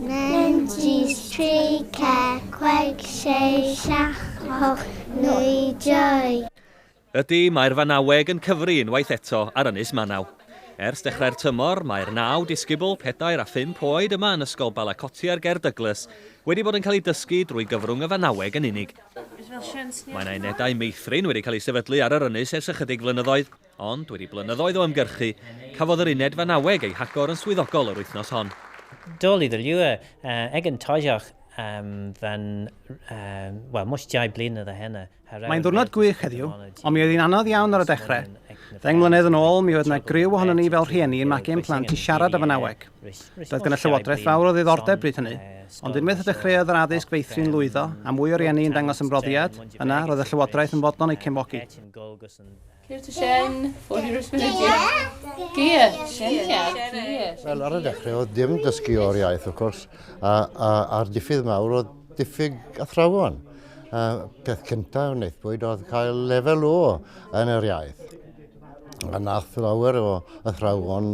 Nen jis tri ce cweg sei siach hoch nwy joy. Ydy, mae'r fanaweg yn cyfri unwaith eto ar Ynys Manaw. Ers dechrau'r tymor, mae'r naw disgybl, pedair a phump oed yma yn Ysgol Balacotier ger Douglas wedi bod yn cael eu dysgu drwy gyfrwng y fanaweg yn unig. Mae 'na unedau meithrin wedi cael eu sefydlu ar yr ynys ers ychydig flynyddoedd. Ond, wedi blynyddoedd o ymgyrchu, cafodd yr uned fanaweg ei hagor yn swyddogol yr wythnos hon. Dol i ddylio ag yn Toyjoch am fan, wel, mush dau blynedd o heno. Mae'n ddiwrnod gwych heddiw, ond mi oedd hi'n anodd iawn ar y dechrau. Ddeng mlynedd yn ôl, mi oedd yna griw ohonon ni fel rhieni yn magu ein plant i siarad y fanaweg. Doedd gan y Llywodraeth fawr o ddiddordeb bryd hynny, ond unwaith y dechreuodd yr addysg feithrin lwyddo, a mwy o rieni yn dangos ymroddiad, yna, roedd y Llywodraeth yn fodlon eu cefnogi. Ceir tŷ Shen, for your responsibility. Geir, Shen, Geir. Wel, ar y dechrau oedd dim dysgu o'r iaith, wrth gwrs, a'r diffydd mawr oedd diffyg athrawon. Peth cyntaf yn eithbwyd oedd cael lefel o yn yr iaith. A nath lawer o athrawon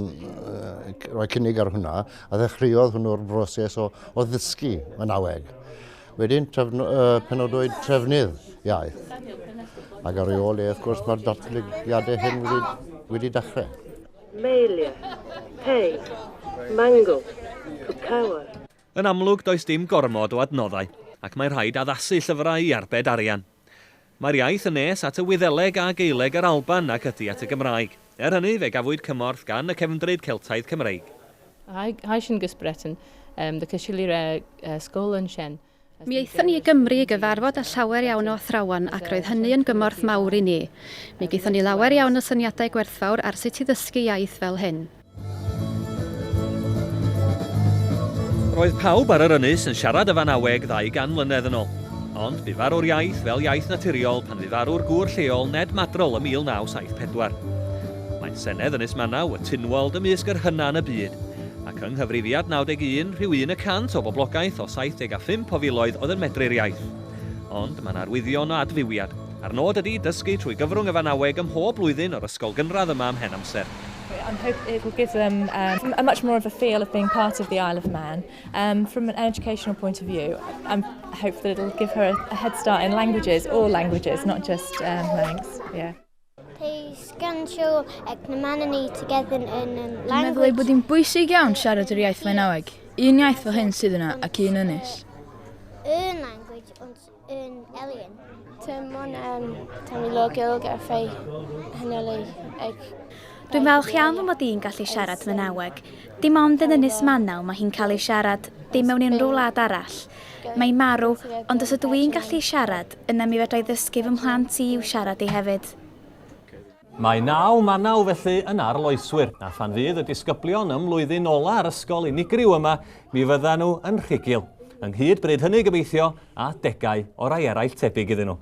roi cynnig ar hwnna, a ddechreuodd hwnnw'r broses o ddysgu yn aweg. Wedyn, trefn, uh, penodwyd trefnydd iaith. Ac ar ei ôl e, wrth gwrs, mae'r datblygiadau hyn wedi, wedi dechrau. Melia, Pei, Mango, Pukawa. Yn amlwg, does dim gormod o adnoddau, ac mae rhaid addasu llyfrau i arbed arian. Mae'r iaith yn nes at y Wyddeleg a Gaeleg yr Alban nag ydy at y Gymraeg. Er hynny, fe gafwyd cymorth gan y cefndryd Celtaidd Cymreig. Heischengespretten, The Kashilire School yn Shen. Mi aethon ni i Gymru i gyfarfod â llawer iawn o athrawon ac roedd hynny yn gymorth mawr i ni. Mi gaethon ni lawer iawn o syniadau gwerthfawr ar sut i ddysgu iaith fel hyn. Roedd pawb ar yr ynys yn siarad y Fanaweg ddau gan mlynedd yn ol. Ond bu farw'r iaith fel iaith naturiol pan fu farw'r gŵr lleol Ned Madrol ym 1974. Mae'n senedd Ynys Manaw, y Tynwald, ymysg yr hyna yn y byd. Ac yng nghyfrifiad 91, rhyw un y cant o boblogaeth o 75 o filoedd oedd yn medru'r iaith. Ond mae'n arwyddion o adfywiad. A'r nod ydi dysgu trwy gyfrwng y Fanaweg ym mhob blwyddyn o'r ysgol gynradd yma am hen amser. and hope it will give them um, a much more of a feel of being part of the Isle of Man. Um, from an educational point of view, I um, hope that it'll give her a, a head start in languages, all languages, not just um, Manx. Yeah. Pe sgansiol ag na man yn ei together in um, language. Dwi'n meddwl ei bod hi'n bwysig iawn siarad yr iaith Flaenaweg. Un iaith fel hyn sydd yna ac un ynys. Un language, yn elin. Dim ond um, tam i log ilg a ffei hynnylu ag... Dwi'n falch iawn fy mod i'n gallu siarad mynaweg. Dim ond yn Ynys Manaw mae hi'n cael ei siarad, dim mewn unrhyw wlad arall. Mae'n marw, ond os ydw i'n gallu siarad, yna mi fedra i ddysgu fy mhlant i i'w siarad i hefyd. Mae naw manaw felly yn arloeswyr, a phan fydd y disgyblion ym mlwyddyn ola ar ysgol unigryw yma, mi fyddan nhw yn rhugil. Ynghyd bryd hynny gobeithio, a degau o rai eraill tebyg iddyn nhw.